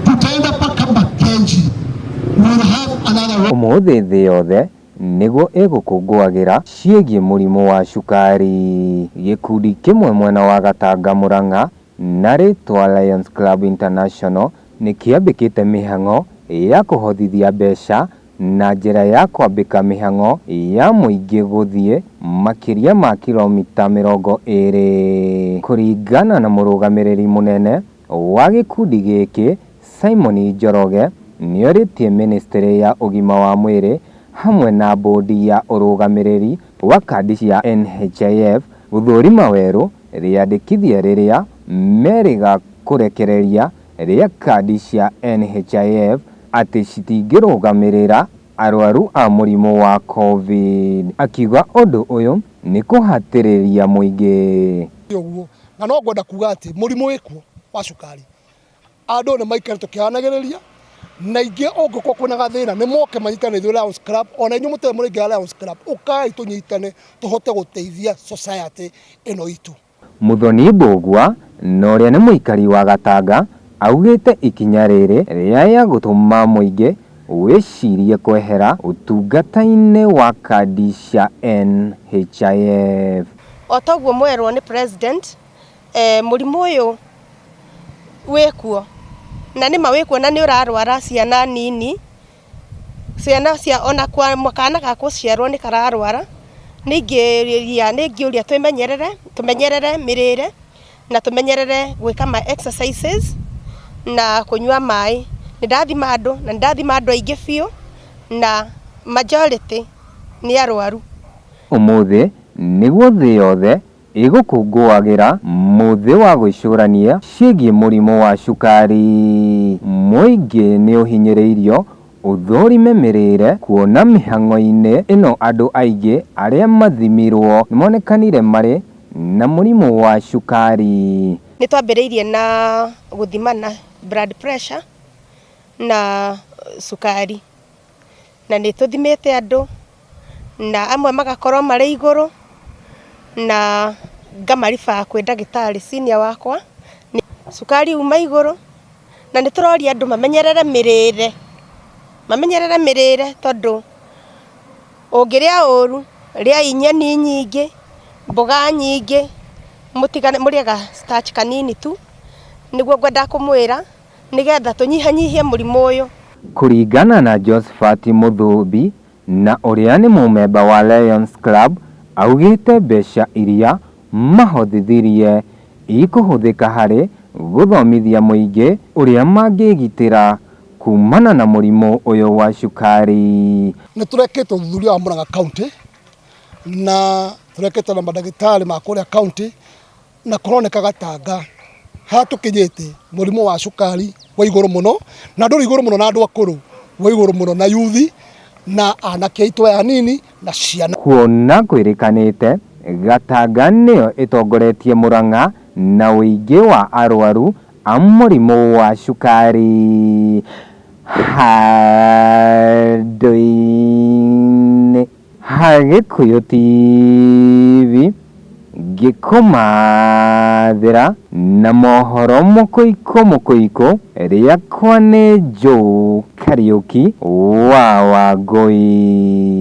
tutaenda mpaka Makenji. We'll have another Ũmũthĩ thĩ yothe nĩguo ĩgũkũngũagĩra ciĩgiĩ mũrimũ wa cukari. Gĩkundi kĩmwe mwena wa Gatanga Murang'a na rĩtwa Lions Club International nĩ kĩambĩkĩte mĩhang'o ya kũhothithia mbeca na njĩra ya kwambĩka mĩhang'o ya mũingĩ gũthiĩ makĩria ma kiromita mĩrongo ĩrĩ. Kũringana na mũrũgamĩrĩri mũnene wa gĩkundi gĩkĩ Simon Njoroge, nĩorĩtie mĩnĩstĩrĩ ya ũgima wa mwĩrĩ hamwe na mbũndi ya ũrũgamĩrĩri wa kandi cia NHIF gũthũrima werũ rĩandĩkithia rĩrĩa merĩga kũrekereria rĩa kandi cia NHIF atĩ citingĩrũgamĩrĩra arwaru a mũrimũ wa Covid, akiuga ũndũ ũyũ nĩ kũhatĩrĩria mũingĩ. Ti ũguo, na no ngwenda kuuga atĩ mũrimũ wĩ kuo wa cukari, andũ nĩ maikare tũkĩaranagĩrĩria, na aingĩ ũngĩkorwo kwĩna gathĩna nĩ moke manyitane na ithuĩ Lions Club, o na inyuĩ mũtarĩ mũraingĩra Lions Club, ũkai tũnyitane tũhote gũteithia society ĩno itũ. Muthoni Mbũgua na ũrĩa nĩ mũikari wa Gatanga augĩte ikinya rĩrĩ rĩaya gũtũma mũingĩ wĩcirie kwehera ũtungata-inĩ wa kandi cia NHIF. Otoguo mwerwo nĩ president mũrimũ ũyũ wĩkuo na nĩma wĩkuo na nĩũrarwara ciana nini. Ciana cia ona kana ga gũciarwo nĩ kararwara, nĩ ingĩria nĩ ingĩũria twĩmenyerere, tũmenyerere mĩrĩre, na tũmenyerere gwĩka ma exercises na kũnyua maĩ. Nĩ ndathima andũ, na nĩ ndathima andũ aingĩ biũ, na majority nĩ arwaru. Ũmũthĩ, nĩguo thĩ yothe Ĩ gũkũngũagĩra mũthĩ wa gwĩcũrania ciĩgiĩ mũrimũ wa cukari? Mũingĩ nĩ ũhinyĩrĩirio ũthũrime mĩrĩre kuona mĩhang'o-inĩ ĩno andũ aingĩ arĩa mathimirwo nĩ monekanire marĩ na mũrimũ wa cukari. Nĩ twambĩrĩirie na gũthimana blood pressure na cukari. na nĩ tũthimĩte andũ na amwe magakorwo marĩ igũrũ na ngamaribaa kwĩ ndagĩtarĩ senior wakwa. Cukari uma igũrũ na nĩ tũroria andũ mamenyerere mĩrĩre, mamenyerere mĩrĩre tondũ ũngĩrĩa ũru rĩai nyeni nyingĩ, mboga nyingĩ, mũrĩe ga starch kanini tu, nĩguo ngwendaga kũmwĩra. nĩgetha tũnyihanyihie mũrimũ ũyũ. Kũringana na Josephat Mũthũũmbi na ũrĩa nĩ mũmemba wa Lions Club augĩte mbeca iria mahothithirie ikũhũthĩka harĩ gũthomithia mũingĩ ũrĩa mangĩgitĩra kumana na mũrimũ ũyũ wa cukari. Nĩ tũrekĩte ũthuthuria wa Murang'a County na tũrekĩte na mandagĩtarĩ ma kũrĩa county. na kũroneka gatanga hatũkinyĩte mũrimũ wa cukari wa igũrũ mũno na ndũrĩ igũrũ mũno na andũ akũrũ wa igũrũ mũno na yuthi na anake aitũ aya anini na ciana. Kuona kwĩrĩkanĩte, Gatanga nĩyo ĩtongoretie Murang'a na ũingĩ wa arwaru a mũrimũ wa cukari handũ-inĩ. Ha Gĩkũyũ TV ngĩkũmathĩra na mohoro mũkũikũ mũkũikũ rĩakwa nĩ Joe Kariũki wa Wangũi.